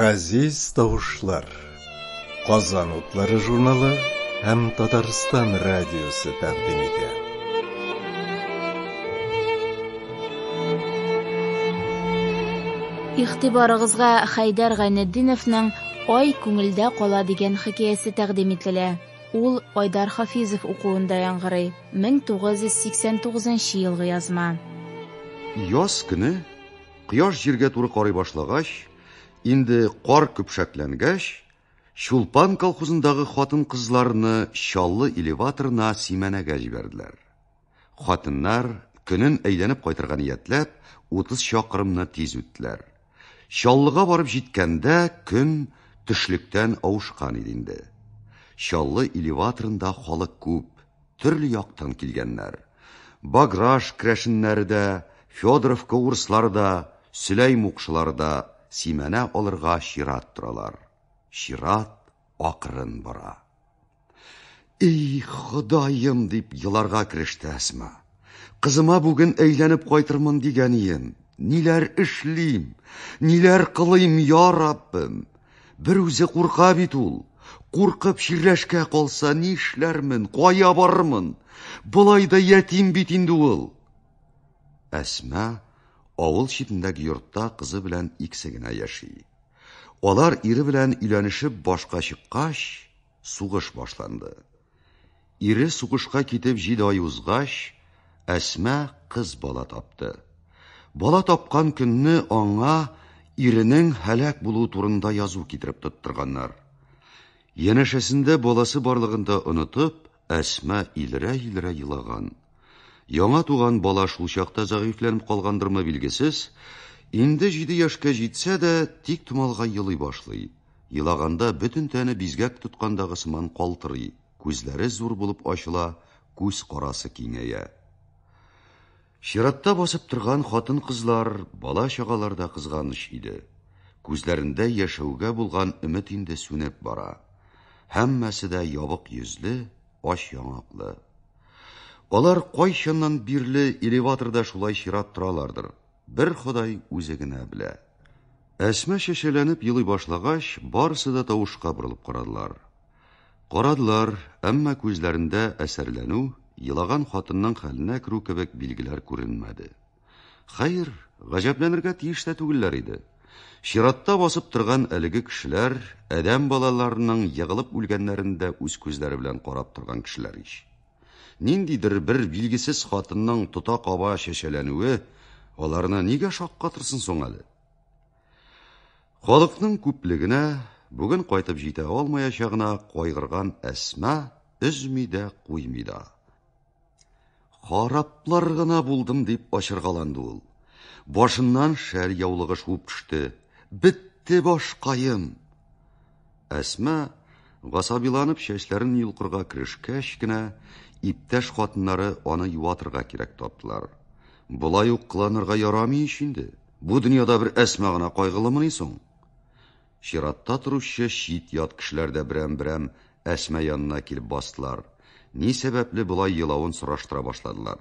Газиз тавышлар. Казан утлары журналы һәм Татарстан радиосы тәкъдим итә. Ихтибарыгызга Хайдар Гайнетдиновның Ай күңелдә кала дигән хикәясе тәкъдим ителә. Ул Айдар Хафизов укуында яңгырый. 1989 елгы язма. Яз көне кояш җиргә туры карый башлагач, инде кар көпшәкләнгәч, Чулпан колхозындагы хатын-кызларны Чаллы элеваторына симәнәгә җибәрделәр. Хатыннар, көнен әйләнеп кайтырга ниятләп, 30 чакрымны тиз үттеләр. Чаллыга барып җиткәндә көн төшлектән авышкан иде инде. Чаллы элеваторында халык күп, төрле яктан килгәннәр. Баграж крәшеннәре дә, Федоровка урыслары да, Сөләй мукшылары да симәнә алырга чират торалар. Чират акрын бара. И, Ходаем, дип еларга кереште Әсма. Кызыма бүген әйләнеп кайтырмын дигән ием. Ниләр эшлим? Ниләр кылыйм, я Раббым? Бер үзе курка бит ул. Куркып чирләшкә калса нишләрмен, кая барырмын? Болай да ятим бит инде ул. Әсма авыл читендәге йортта кызы белән икесе генә яши. Алар ире белән өйләнешеп башка чыккач, Сугыш башланды. Ире сугышка китеп җиде ай узгач, Әсма кыз бала тапты. Бала тапкан көнне аңа иренең һәлак булуы турында язу китереп тоттырганнар. Янәшәсендә баласы барлыгын да онытып, Әсма илрә-илрә елаган. Яңа туган бала шул чакта зәгыйфьләнеп калгандырмы билгесез, инде җиде яшькә җитсә дә, тик томалга елый башлый. Елаганда бөтен тәне бизгәк тоткандагы сыман калтырый, күзләре зур булып ачыла, күз карасы киңәя. Чиратта басып торган хатын-кызлар, бала-чагалар да кызганыч иде. Күзләрендә яшәүгә булган өмет инде сүнеп бара. Һәммәсе дә ябык йөзле, ач яңаклы. Алар кайчаннан бирле элеваторда шулай чират торалардыр, бер Ходай үзе генә белә. Әсма шешәләнеп елый башлагач, барысы да тавышка борылып карадылар. Карадылар, әмма күзләрендә әсәрләнү, елаган хатынның хәленә керү кебек билгеләр күренмәде. Хәер, гаҗәпләнергә тиеш тә түгелләр иде. Чиратта басып торган әлеге кешеләр адәм балаларының егылып үлгәннәрен дә үз күзләре белән карап торган кешеләр ич. Ниндидер бер билгесез хатынның тота-каба чәчәләнүе аларны нигә шаккатырсын соң әле? Халыкның күплегенә, бүген кайтып җитә алмаячагына кайгырган Әсма өзми дә, куймый да. Хараплар гына булдым, дип ачыргаланды ул. Башыннан шәл яулыгы шуып төште. Бетте башкаем. Әсма гасабиланып чәчләрен йолкырга керешкәч кенә, иптәш хатыннары аны юатырга кирәк таптылар. Болай ук кыланырга ярамый ич инде. Бу дөньяда бер Әсма гына кайгылымыни соң? Чиратта торучы чит-ят кешеләр дә берәм-берәм Әсма янына килеп бастылар, ни сәбәпле болай елавын сораштыра башладылар.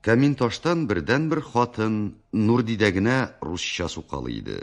Камин таштан бердәнбер хатын Нурдидә генә русча сукалый иде.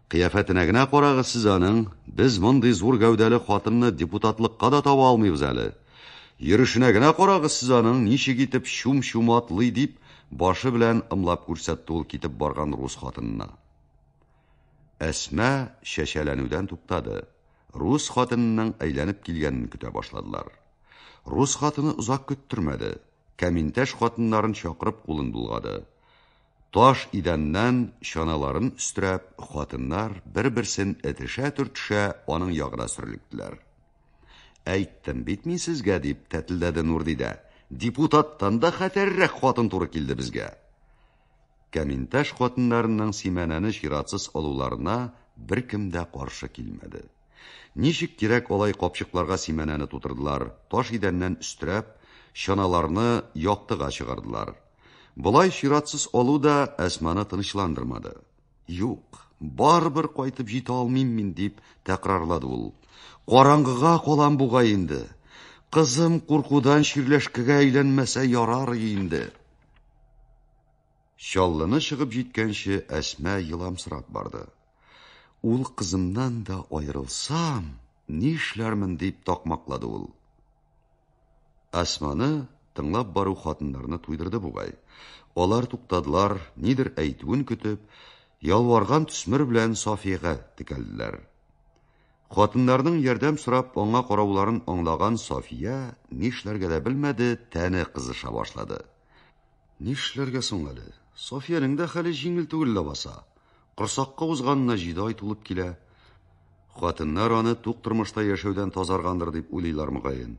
Кыяфәтенә генә карагыз сез аның, без мондый зур гәүдәле хатынны депутатлыкка да таба алмыйбыз әле. Йөрүшенә генә карагыз сез аның, ничек итеп чум-чум атлый, дип, башы белән ымлап күрсәтте ул китеп барган рус хатынына. Әсма чәчәләнүдән туктады. Рус хатынының әйләнеп килгәнен көтә башладылар. Рус хатыны озак көттермәде. Кәминтәш хатыннарын чакырып кулын булгады. Таш идәннән чаналарын өстерәп, хатыннар, бер-берсен этешә-төртешә, аның ягына сөрлектеләр. Әйттем бит мин сезгә, дип тәтелдәде Нурдидә. Депутаттан да хәтәррәк хатын туры килде безгә. Кәминташ хатыннарының Симәнәне чиратсыз алуларына беркем дә каршы килмәде. Ничек кирәк алай капчыкларга Симәнәне тутырдылар, таш идәннән өстерәп, чаналарны яктыга чыгардылар. Болай чиратсыз алу да Әсманы тынычландырмады. Юк, барыбер кайтып җитә алмыйм мин, дип тәкрарлады ул. Караңгыга калам бугай инде. Кызым куркудан чирләшкәгә әйләнмәсә ярар инде. Чаллыны чыгып җиткәнче Әсмә еламсырап барды. Ул кызымнан да аерылсам, нишләрмен дип такмаклады ул. Әсманы тыңлап бару хатыннарны туйдырды бугай. Алар туктадылар, нидер әйтүен көтеп, ялварган төсмер белән Сафиягә текәлделәр. Хатыннарның ярдәм сорап аңа карауларын аңлаган Сафия нишләргә дә белмәде, тәне кызыша башлады. Нишләргә соң әле? Софиянең дә хәле җиңел түгел лабаса. Корсакка узганына җиде ай тулып килә. Хатыннар аны тук тормышта яшәүдән тазаргандыр дип уйлыйлар мөгаен.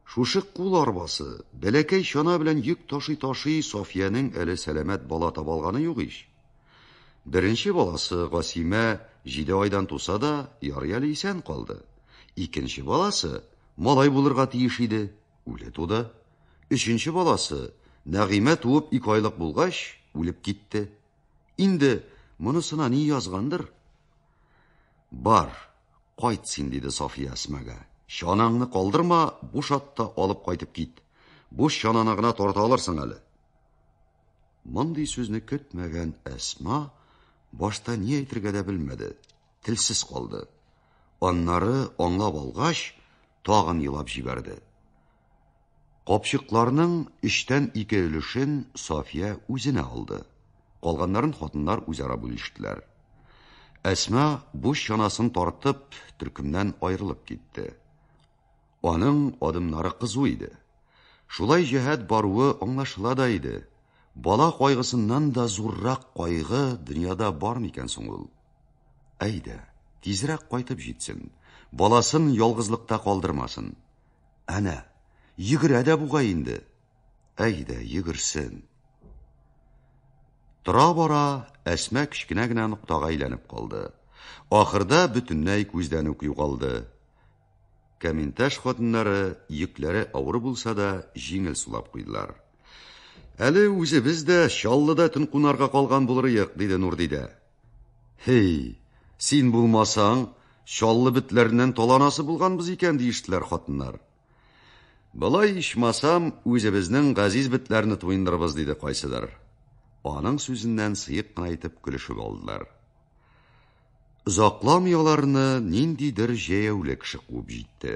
Шушы кул арбасы, бәләкәй чана белән йөк ташый-ташый Софиянең әле сәламәт бала таба алганы юк ич. Беренче баласы Гасимә җиде айдан туса да, ярый әле исән калды. Икенче баласы малай булырга тиеш иде, үле туды. Өченче баласы Нәгыймә туып ике айлык булгач, үлеп китте. Инде монысына ни язгандыр? Бар, кайт син, диде Сафия Әсмәгә. Чанаңны калдырма, буш атта алып кайтып кит. Буш чананы гына тарта алырсың әле. Мондый сүзне көтмәгән Әсма башта ни әйтергә дә белмәде, телсез калды. Аннары аңлап алгач, тагын елап җибәрде. Капчыкларның өчтән ике өлешен Сафия үзенә алды. Калганнарын хатыннар үзара бүлештеләр. Әсма буш чанасын тартып, төркемнән аерылып китте. Аның адымнары кызу иде. Шулай җәһәт баруы аңлашыла да иде. Бала кайгысыннан да зуррак кайгы дөньяда бар микән соң ул? Әйдә, тизрәк кайтып җитсен, баласын ялгызлыкта калдырмасын. Әнә, йөгерә дә бугай инде. Әйдә, йөгерсен. Тора-бара Әсма кечкенә генә ноктага әйләнеп калды. Ахырда бөтенләй күздән үк югалды. Каменташ хатыннары йөкләре авыр булса да җиңел сулап куйдылар. Әле үзебез дә Чаллыда төн кунарга калган булырыек, диде Нурдидә. Һей, син булмасаң, чаллы бетләреннән таланасы булганбыз икән, диештеләр хатыннар. Былай ичмасам, үзебезнең газиз бетләрне туендырыбыз, диде кайсыдыр. Аның сүзеннән сыек кына итеп көлешеп алдылар. Озакламый аларны ниндидер җәяүле кеше куып җитте.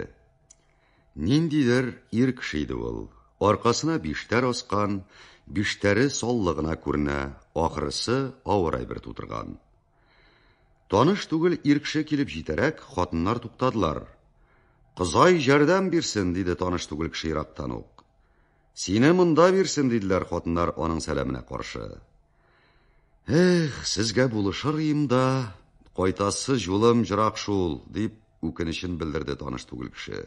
Ниндидер ир кеше иде ул. Аркасына биштәр аскан, биштәре саллы гына күренә, ахрысы, авыр әйбер тутырган. Таныш түгел ир кеше килеп җитәрәк, хатыннар туктадылар. Кызай җәрдәм бирсен, диде таныш түгел кеше ерактан ук. Сине монда бирсен, диделәр хатыннар аның сәламенә каршы. Эх, сезгә булышыр ием да, кайтасы җулым җырак шул, дип үкенечен белдерде таныш түгел кеше.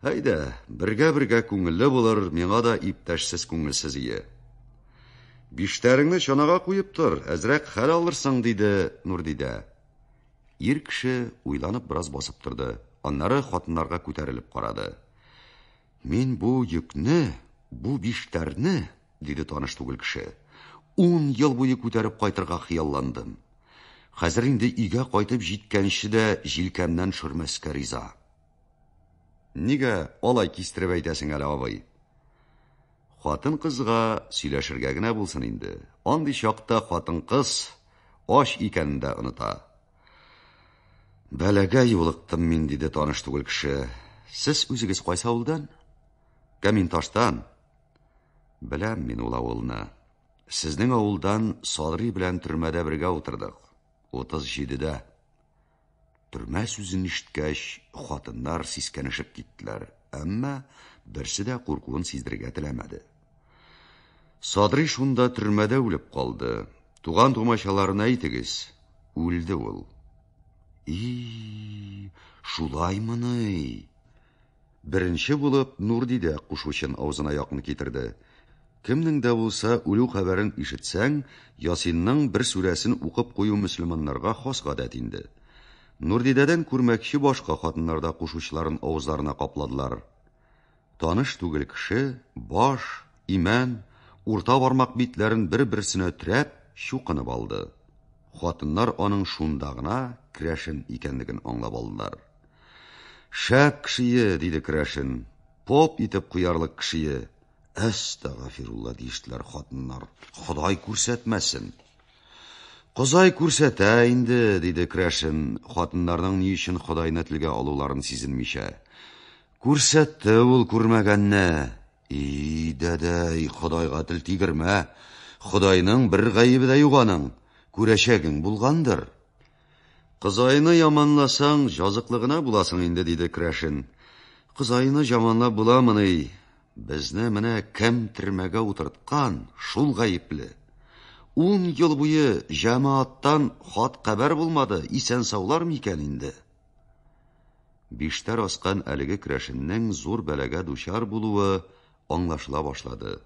Әйдә, бергә-бергә күңелле булыр, миңа да иптәшсез күңелсез ие. Биштәреңне чанага куеп тор, әзрәк хәл алырсың, диде Нурдидә. Ир кеше уйланып бераз басып торды, аннары хатыннарга күтәрелеп карады. Мин бу йөкне, бу биштәрне, диде таныш түгел кеше. Ун ел буе күтәреп кайтырга хыялландым. Хәзер инде өйгә кайтып җиткәнче дә җилкәмнән шөрмәскә риза. Нигә алай кистереп әйтәсең әле, абый? Хатын-кызга сөйләшергә генә булсын инде. Андый чакта хатын-кыз ач икәнен дә оныта. Бәлагә юлыктым мин, диде таныш түгел кеше. Сез үзегез кайсы авылдан? Каминташтан. Беләм мин ул авылны. Сезнең авылдан Садри белән төрмәдә бергә утырдык. 37-дә. Төрмә сүзен ишеткәч, хатыннар сискәнешеп киттеләр, әмма берсе дә куркуын сиздерергә теләмәде. Садри шунда төрмәдә үлеп калды. Туган тумачаларына әйтегез, үлде ул. И, шулаймыни? Беренче булып Нурди дә кушучын авызына якын китерде. Кемнең дә булса үлү хәбәрен ишетсәң, Ясинның бер сүрәсен укып кую мөселманнарга хас гадәт инде. Нурдидәдән күрмәкче башка хатыннарда кушучларын авызларына капладылар. Таныш түгел кеше баш, имән, урта бармак битләрен бер-берсенә төрәп, чукынып алды. Хатыннар аның шунда гына керәшен икәнлеген аңлап алдылар. Шәп кешее, диде керәшен. Поп итеп куярлык кешее. Әстәгафирулла диештеләр хатыннар. Ходай күрсәтмәсен. Козай күрсәтә инде, диде керәшен, хатыннарның ни өчен Худайны телгә алуларын сизенмичә. Күрсәтте ул күрмәгәнне. И, дәдәй, Ходайга тел тигермә. Ходайның бер гаебе дә юк аның. Күрәчәгең булгандыр. Кызайны яманласаң, җазыклы гына буласың инде, диде Крәшен. Кызайны жаманлап буламыни? Безне менә кем төрмәгә утырткан, шул гаепле. Ун ел буе җәмәаттан хат-хәбәр булмады, исән-саулар микән инде? Биштәр аскан әлеге керәшеннең зур бәлагә дучар булуы аңлашыла башлады.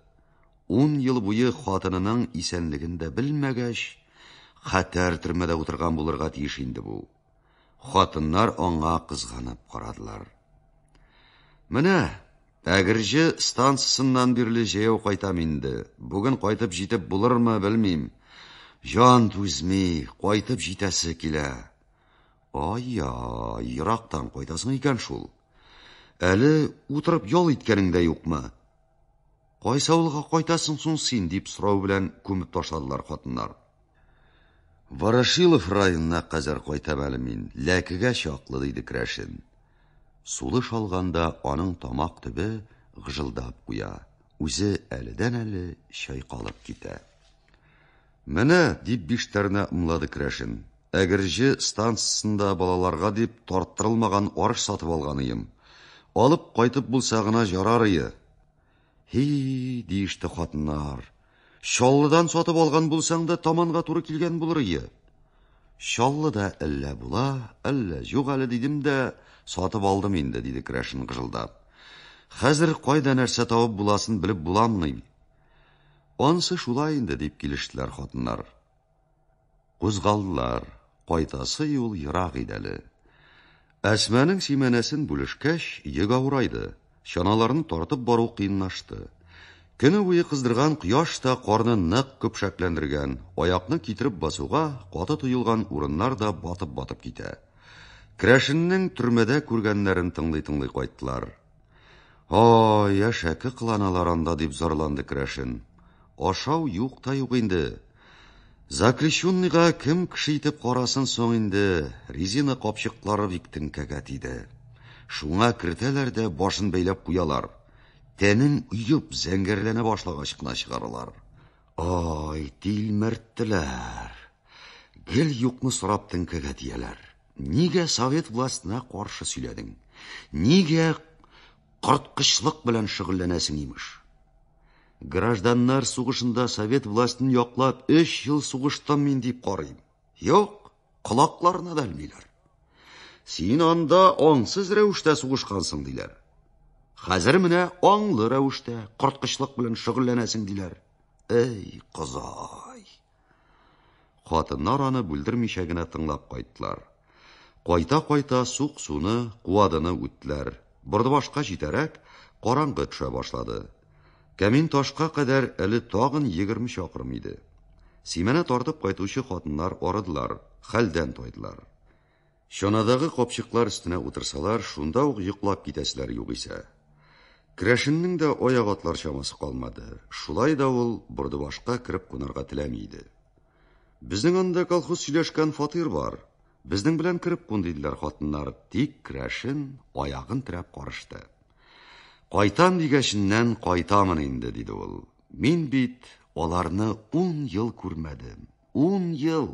Ун ел буе хатынының исәнлеген дә белмәгәч, хәтәр төрмәдә утырган булырга тиеш инде бу. Хатыннар аңа кызганып карадылар. Менә Әгерҗе станциясеннән бирле җәяү кайтам инде. Бүген кайтып җитеп булырмы, белмим. Җан түзми, кайтып җитәсе килә. Ай-яй, ерактан кайтасың икән шул. Әле утырып ял иткәнең дә юкмы? Кайсы авылга кайтасың соң син, дип сорау белән күмеп ташладылар хатыннар. Ворошилов районына кадәр кайтам әле мин, ләкегә чаклы, диде керәшен. Сулыш алганда аның тамак төбе гыжылдап куя, үзе әледән-әле чайкалып китә. Менә, дип биштәренә ымлады керәшен, Әгерҗе станциясендә балаларга дип тарттырылмаган арыш сатып алганыем. Алып кайтып булса гына җарарые. Һи, диеште хатыннар. Чаллыдан сатып алган булсаң да таманга туры килгән булырые. Чаллыда әллә була, әллә юк әле дидем дә, сатып алдым инде, диде керәшен гыжылдап. Хәзер кайда нәрсә табып буласын белеп буламыни? Ансы шулай инде, дип килештеләр хатыннар. Кузгалдылар, кайтасы юл ерак иде әле. Әсмәнең симәнәсен бүлешкәч, йөк авырайды, чаналарны тартып бару кыенлашты. Көне буе кыздырган кояш та карны нык көпшәкләндергән, аякны китереп басуга каты тоелган урыннар да батып-батып китә. Крәшеннең төрмәдә күргәннәрен тыңлый-тыңлый кайттылар. О, яшәке кыланалар анда, дип зарланды Крәшен. Ашау юк та юк инде. Заключенныйга кем кеше итеп карасын соң инде, резина капчыклары бик теңкәгә тиде. Шуңа кертәләр дә башын бәйләп куялар. Тәнен уеп, зәңгәрләнә башлагач кына чыгаралар. Ай, тилмерттеләр. Гел юкны сорап теңкәгә тияләр. Нигә совет властена каршы сөйләдең? Нигә корткычлык белән шөгыльләнәсең, имеш? Гражданнар сугышында совет властен яклап 3 ел сугыштым мин дип карыйм. Юк, колакларына да элмиләр. Син анда аңсыз рәвештә сугышкансың диләр. Хәзер менә аңлы рәвештә корткычлык белән шөгыльләнәсең диләр. Эй, козай. Хатыннар аны бүлдермичә генә тыңлап кайттылар. Кайта-кайта сук-суны, куадыны үттеләр. Бордыбашка җитәрәк, караңгы төшә башлады. Кәмин ташка кадәр әле тагын егерме чакрым иде. Симәнә тартып кайтучы хатыннар арыдылар, хәлдән тайдылар. Чанадагы капчыклар өстенә утырсалар, шунда ук йоклап китәселәр югыйсә. Крәшеннең дә аяк атлар чамасы калмады. Шулай да ул Бордыбашка кереп кунарга теләми иде. Безнең анда колхоз сөйләшкән фатир бар. Безнең белән кереп кун, диделәр хатыннар, тик Крәшен аягын терәп карышты. Кайтам дигәченнән кайтамын инде, диде ул. Мин бит аларны ун ел күрмәдем. Ун ел!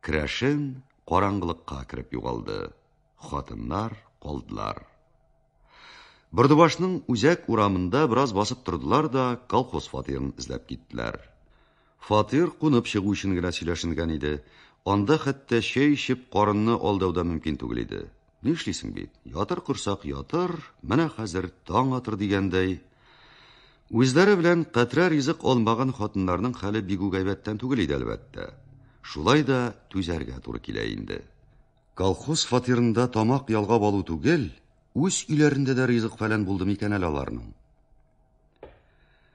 Крәшен караңгылыкка кереп югалды. Хатыннар калдылар. Бордыбашның үзәк урамында бераз басып тордылар да колхоз фатирын эзләп киттеләр. Фатир кунып чыгу өчен генә сөйләшенгән иде. Анда хәтта чәй эчеп карынны алдау да мөмкин түгел иде. Нишлисең бит, ятыр корсак ятыр, менә хәзер таң атыр дигәндәй. Үзләре белән катрә ризык алмаган хатыннарның хәле бигү гайбәттән түгел иде, әлбәттә. Шулай да түзәргә туры килә инде. Колхоз фатирында тамак ялгап алу түгел, үз өйләрендә дә ризык-фәлән булды микән әле аларның?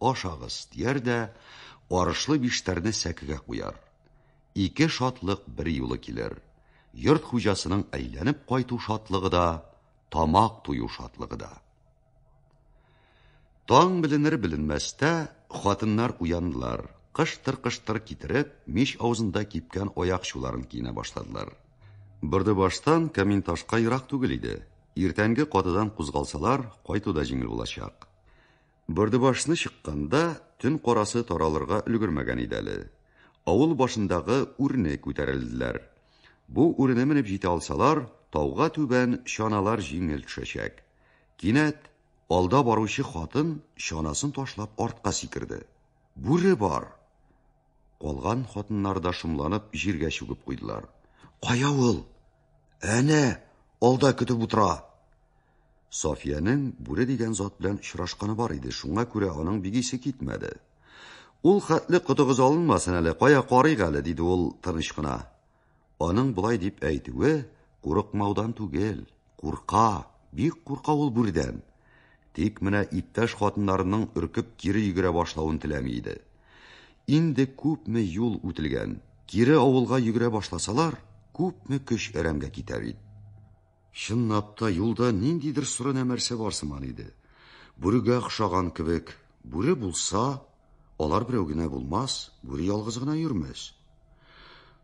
Ашагыз, дияр дә, арышлы биштәрне сәкегә куяр. Ике шатлык бер юлы килер. Йорт хуҗасының әйләнеп кайту шатлыгы да, тамак тую шатлыгы да. Таң беленер беленмәстә хатыннар уяндылар. Кыштыр-кыштыр китереп, мич авызында кипкән аякчуларын киенә башладылар. Бөрде баштан камин ташка ерак түгел иде. Иртәнге катыдан кузгалсалар, кайту да җиңел булачак. Бөрдебашны чыкканда, төн карасы таралырга өлгермәгән иде әле. Авыл башындагы үрне күтәрелделәр. Бу үрне менеп җитә алсалар, тауга түбән чаналар җиңел төшәчәк. Кинәт алда баручы хатын чанасын ташлап артка сикерде. Бүре бар! Калган хатыннар да шомланып җиргә чүгеп куйдылар. Кая ул? Әнә, алда көтеп утыра! Софиянең бүре дигән зат белән очрашканы бар иде, шуңа күрә аның бигисе китмәде. Ул хәтле котыгыз алынмасын әле, кая карыйк әле, диде ул тыныч кына. Аның болай дип әйтүе курыкмаудан түгел, курка, бик курка ул бүрдән. Тик менә иптәш хатыннарының өркеп кире йөгерә башлавын теләми иде. Инде күпме юл үтелгән, кире авылга йөгерә башласалар, күпме көч әрәмгә китәр иде. Чынлап та, юлда ниндидер соры нәмәрсә бар сыман иде. Бүрегә охшаган кебек, бүре булса, алар берәү генә булмас, бүре ялгыз гына йөрмәс.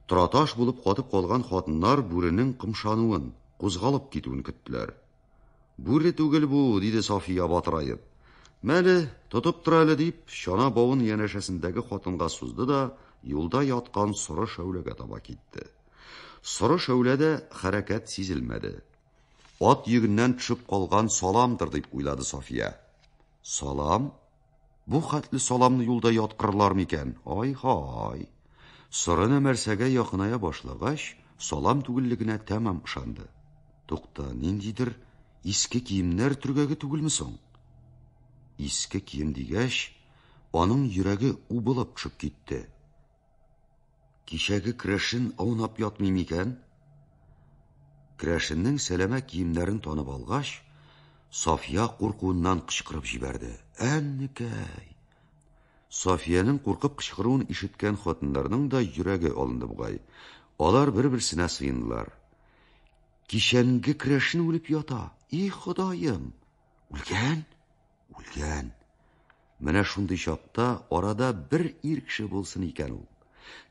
Тораташ булып катып калган хатыннар бүренең кымшануын, кузгалып китүен көттеләр. Бүре түгел бу, диде Сафия батыраеп. Мәле, тотып тор әле, дип, чана бавын янәшәсендәге хатынга сузды да, юлда яткан соры шәүләгә таба китте. Соры шәүләдә хәрәкәт сизелмәде. Ат йөгеннән төшеп калган саламдыр дип уйлады София. Салам? Бу хәтле саламны юлда яткырлар микән? Ай-һай. Соры нәмәрсәгә якыная башлагач, салам түгеллегенә тәмам ышанды. Тукта, ниндидер иске киемнәр төргәге түгелме соң? Иске кием дигәч, аның йөрәге убылып төшеп китте. Кичәге крәшен аунап ятмый микән? Крәшеннең сәләмә киемнәрен танып алгач, София куркуыннан кычкырып җибәрде. Әннекәй! Софиянең куркып кычкыруын ишеткән хатыннарның да йөрәге алынды бугай. Алар бер-берсенә сыендылар. Кичәнге крәшен үлеп ята. И, Ходаем! Үлгән? Үлгән. Менә шундый чакта арада бер ир кеше булсын икән ул.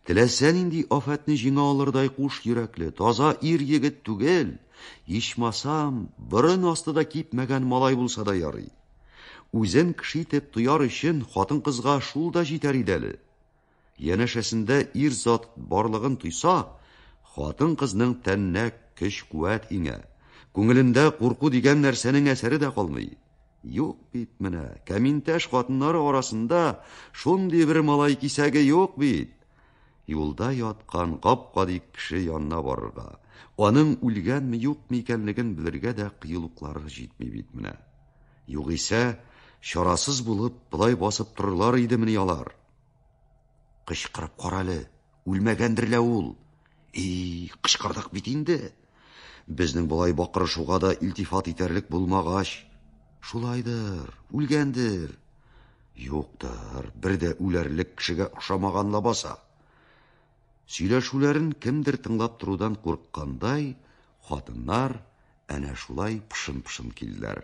Теләсә нинди афәтне җиңә алырдай куш йөрәкле, таза ир егет түгел, ичмасам, борын асты да кипмәгән малай булса да ярый. Үзен кеше итеп тояр өчен хатын-кызга шул да җитәр иде әле. Янәшәсендә ир-зат барлыгын тойса, хатын-кызның тәненә көч-куәт иңә, күңелендә курку дигән нәрсәнең әсәре дә калмый. Юк бит менә, кәминтәш хатыннары арасында шундый бер малай кисәге юк бит. Юлда яткан гап-гади кеше янына барырга, аның үлгәнме, юкмы икәнлеген белергә дә кыюлыклары җитми бит менә. Югыйсә, чарасыз булып, болай басып торырлар идемени алар? Кычкырып карале, үлмәгәндер лә ул. И, кычкырдык бит инде. Безнең болай бакырышуга да илтифат итәрлек булмагач, шулайдыр, үлгәндер. Юктыр, бер дә үләрлек кешегә охшамаган лабаса. Сөйләшүләрен кемдер тыңлап торудан курыккандай, хатыннар әнә шулай пышын-пышын килделәр.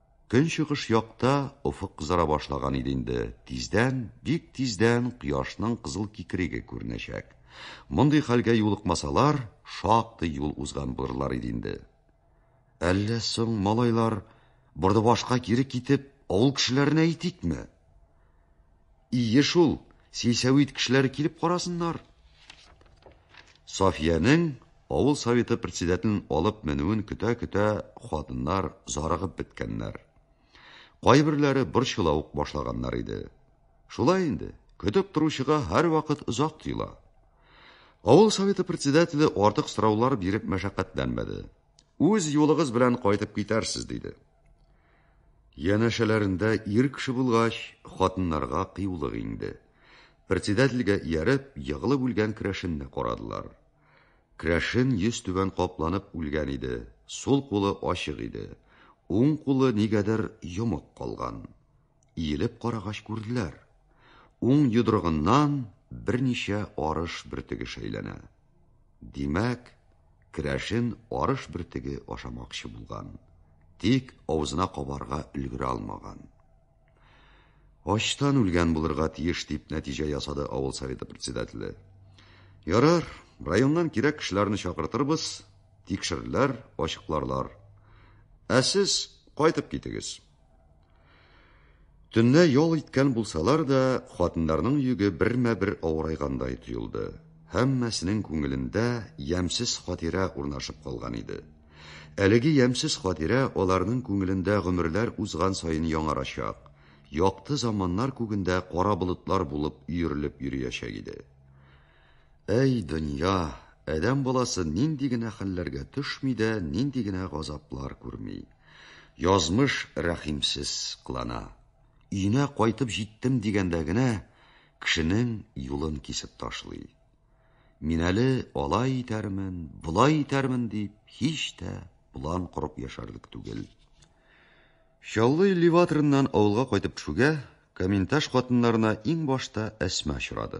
Көнчыгыш якта офык кызара башлаган иде инде. Тиздән, бик тиздән кояшның кызыл кикереге күренәчәк. Мондый хәлгә юлыкмасалар, шактый юл узган булырлар иде инде. Әллә соң, малайлар, Бордыбашка кире китеп, авыл кешеләренә әйтикме? Ие шул, сельсовет кешеләре килеп карасыннар. Софиянең авыл советы председателен алып менүен көтә-көтә хатыннар зарыгып беткәннәр. Кайберләре борчыла ук башлаганнар иде. Шулай инде, көтеп торучыга һәрвакыт озак тоела. Авыл советы председателе артык сораулар биреп мәшәкатьләнмәде. Үз юлыгыз белән кайтып китәрсез, диде. Янәшәләрендә ир кеше булгач, хатыннарга кыюлык инде. Председательгә ияреп, егылып үлгән керәшенне карадылар. Керәшен йөз түбән капланып үлгән иде, сул кулы ачык иде, уң кулы нигәдер йомык калган. Иелеп карагач күрделәр. Уң йодрыгыннан берничә арыш бөртеге шәйләнә. Димәк, керәшен арыш бөртеге ашамакчы булган, тик авызына кабарга өлгерә алмаган. Ачтан үлгән булырга тиеш, дип нәтиҗә ясады авыл советы председателе. Ярар, районнан кирәк кешеләрне чакыртырбыз, тикшерерләр, ачыкларлар. Ә сез кайтып китегез. Төнлә ял иткән булсалар да, хатыннарның йөге бермә-бер авырайгандай тоелды. Һәммәсенең күңелендә ямьсез хатирә урнашып калган иде. Әлеге ямьсез хатирә аларның күңелендә гомерләр узган саен яңарачак, якты заманнар күгендә кара болытлар булып өерелеп йөриячәк иде. Әй, дөнья, адәм баласы нинди генә хәлләргә төшми дә, нинди генә газаплар күрми. Язмыш рәхимсез кылана. Өенә кайтып җиттем дигәндә генә, кешенең юлын кисеп ташлый. Мин әле алай итәрмен, болай итәрмен дип, һич тә план корып яшәрлек түгел. Чаллы элеваторыннан авылга кайтып төшүгә, Каменташ хатыннарына иң башта Әсма очрады.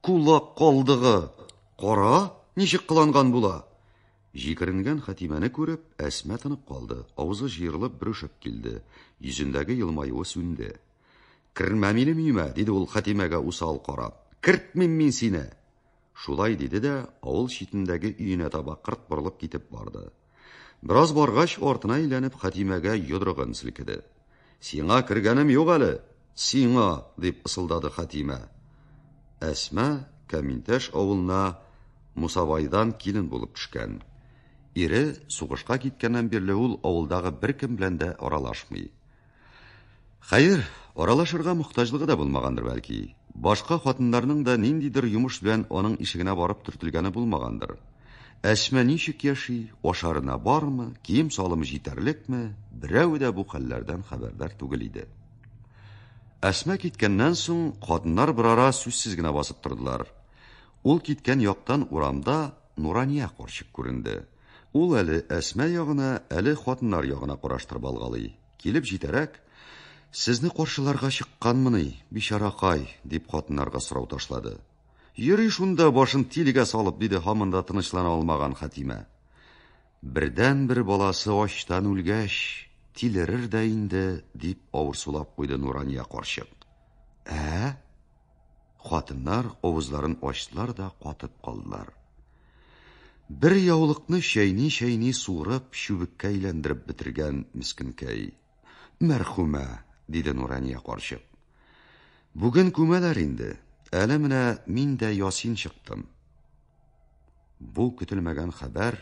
Кулак калдыгы, кара, ничек кыланган була! Җикеренгән Хәтимәне күреп, Әсма тынып калды, авызы җыерылып бөрешеп килде, йөзендәге елмаюы сүнде. Кермә минем өемә, диде ул Хәтимәгә усал карап. Кертмим мин сине! Шулай диде дә, авыл читендәге өенә таба кырт борылып китеп барды. Бераз баргач, артына әйләнеп, Хәтимәгә йодрыгын селкеде. Сиңа кергәнем юк әле, сиңа, дип ысылдады Хәтимә. Әсма Каминтәш авылына Мусабайдан килен булып төшкән. Ире сугышка киткәннән бирле ул авылдагы беркем белән дә аралашмый. Хәер, аралашырга мохтаҗлыгы да булмагандыр бәлки. Башка хатыннарның да ниндидер йомыш белән аның ишегенә барып төртелгәне булмагандыр. Әсмә ничек яши, ашарына бармы, кием салымы җитәрлекме, берәү дә бу хәлләрдән хәбәрдар түгел иде. Әсмә киткәннән соң хатыннар берара сүзсез генә басып тордылар. Ул киткән яктан урамда Нурания карчык күренде. Ул әле Әсма ягына, әле хатыннар ягына караштырып алгалый. Килеп җитәрәк, Сезне каршыларга чыкканмыни, бичаракай, дип хатыннарга сорау ташлады. Йөри шунда башын тилегә салып, диде һаман да тынычлана алмаган Хатимә. Бердән-бер баласы ачтан үлгәч, тилерер дә инде, дип авырсулап куйды Нурания карчык. Ә? Хатыннар авызларын ачтылар да катып калдылар. Бер яулыкны чәйни-чәйни суырып, чүбеккә әйләндереп бетергән мескенкәй. Мәрхүмә, диде Нурания карчык. Бүген күмәләр инде. Әле менә мин дә ясин чыктым. Бу көтелмәгән хәбәр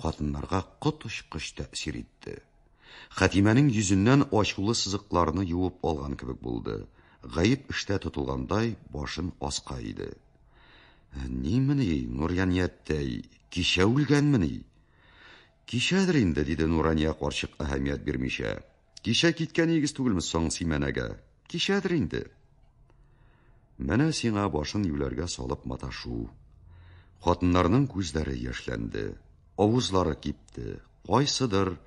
хатыннарга коточкыч тәэсир итте. Хәтимәнең йөзеннән ачулы сызыкларны юып алган кебек булды. Гаеп эштә тотылгандай, башын аска иде. «Ә Нимени, Нурянияттәй, кичә үлгәнмени? Кичәдер инде, диде Нурания карчык әһәмият бирмичә. Кичә киткәнегез түгелме соң Симәнәгә? Кичәдер инде. Менә сиңа башын юләргә салып маташу. Хатыннарның күзләре яшьләнде, авызлары кипте. Кайсыдыр,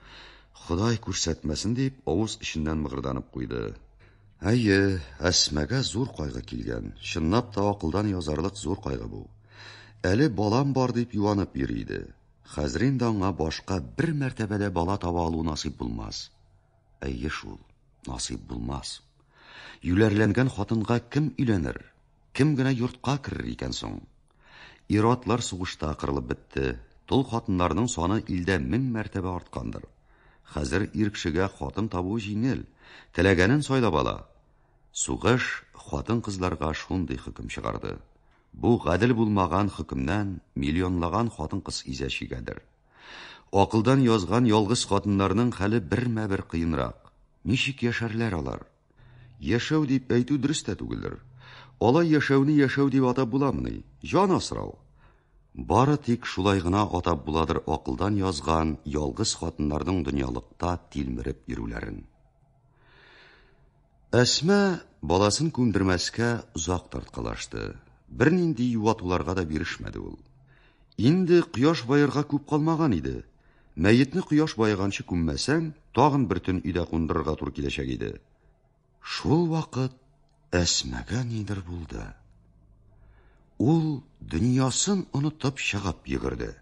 Ходай күрсәтмәсен дип, авыз эченнән мыгырданып куйды. Әйе, Әсмәгә зур кайгы килгән. Чынлап та акылдан язарлык зур кайгы бу. Әле балам бар дип юанып йөри иде. Хәзер инде аңа башка бер мәртәбәдә бала таба алу насыйп булмас. Әйе шул, насыйп булмас. Юләрләнгән хатынга кем өйләнер? Кем генә йортка керер икән соң? Иратлар сугышта кырылып бетте. Тол хатыннарның саны илдә мең мәртәбә арткандыр. Хәзер ир кешегә хатын табу җиңел, теләгәнен сайлап ала. Сугыш хатын-кызларга шундый хөкем чыгарды. Бу гадел булмаган хөкемнән миллионлаган хатын-кыз изә чигәдер. Акылдан язган ялгыз хатыннарның хәле бермә-бер кыенрак. Ничек яшәрләр алар? Яшәү дип әйтү дөрес тә түгелдер. Алай яшәүне яшәү дип атап буламыни? Җан асрау. Бары тик шулай гына атап буладыр акылдан язган ялгыз хатыннарның дөньялыкта тилмереп йөрүләрен. Әсма баласын күндермәскә озак тарткалашты. Бернинди юатуларга да бирешмәде ул. Инде кояш баерга күп калмаган иде. Мәетне кояш баеганчы күммәсәң, тагын бер төн өйдә кундырырга туры киләчәк иде. Шул вакыт Әсмәгә нидер булды. Ул дөньясын онытып чыгып йөгерде.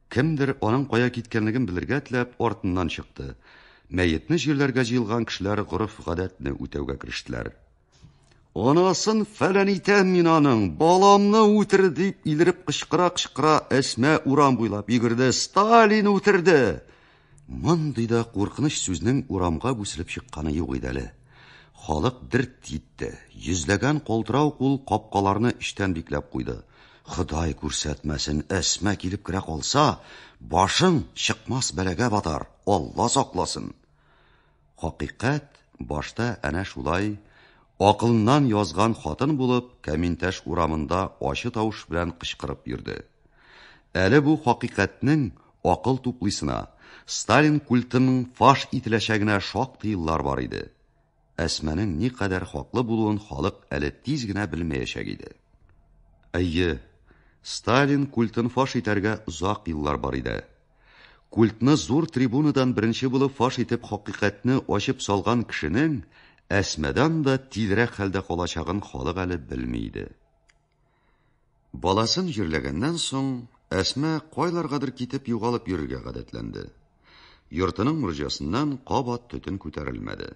Кемдер аның кая киткәнлеген белергә теләп артыннан чыкты. Мәетне җирләргә җыелган кешеләр гореф-гадәтне үтәүгә керештеләр. Анасын фәлән итәм мин аның, баламны үтер, дип илереп кычкыра-кычкыра Әсмә урам буйлап йөгерде. Сталин үтерде! Мондый да куркыныч сүзнең урамга бүселеп чыкканы юк иде әле. Халык дерт китте. Йөзләгән калтырау кул капкаларны эчтән бикләп куйды. Ходай күрсәтмәсен, Әсма килеп керә калса, башың чыкмас бәлагә батар, Алла сакласын. Хакыйкать башта әнә шулай акылыннан язган хатын булып Кәминтәш урамында ачы тавыш белән кычкырып йөрде. Әле бу хакыйкатьнең акыл туплыйсына, Сталин культының фаш ителәчәгенә шактый еллар бар иде. Әсманең никадәр хаклы булуын халык әле тиз генә белмәячәк иде. Әйе, Сталин культын фаш итәргә озак еллар бар иде. Культны зур трибунадан беренче булып фаш итеп хакыйкатьне ачып салган кешенең Әсмәдан да тизрәк хәлдә калачагын халык әле белми иде. Баласын җирләгәннән соң, Әсмә кайларгадыр китеп югалып йөрергә гадәтләнде. Йортының морҗасыннан кабат төтен күтәрелмәде.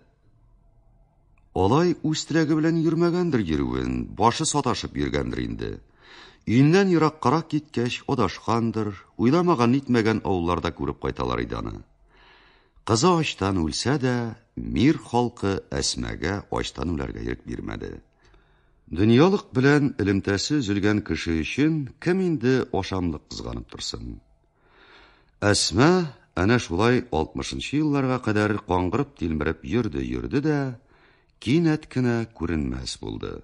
Алай үз теләге белән йөрмәгәндер йөрүен, башы саташып йөргәндер инде. Өеннән ераккарак киткәч, адашкандыр, уйламаган нитмәгән авылларда күреп кайталар иде аны. Кызы ачтан үлсә дә, мир халкы Әсмәгә ачтан үләргә ирек бирмәде. Дөньялык белән элемтәсе өзелгән кеше өчен кем инде ашамлык кызганып торсын? Әсма әнә шулай 60-нчы елларга кадәр каңгырып-тилмереп йөрде-йөрде дә, кинәт кенә күренмәс булды.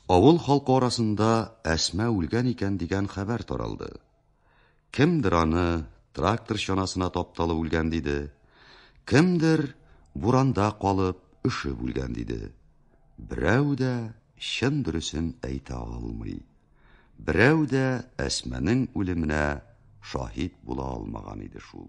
Авыл халкы арасында Әсма үлгән икән дигән хәбәр таралды. Кемдер аны трактор чанасына тапталып үлгән диде, кемдер буранда калып, өшеп үлгән диде. Берәү дә чын дөресен әйтә алмый. Берәү дә Әсмәнең үлеменә шаһит була алмаган иде шул.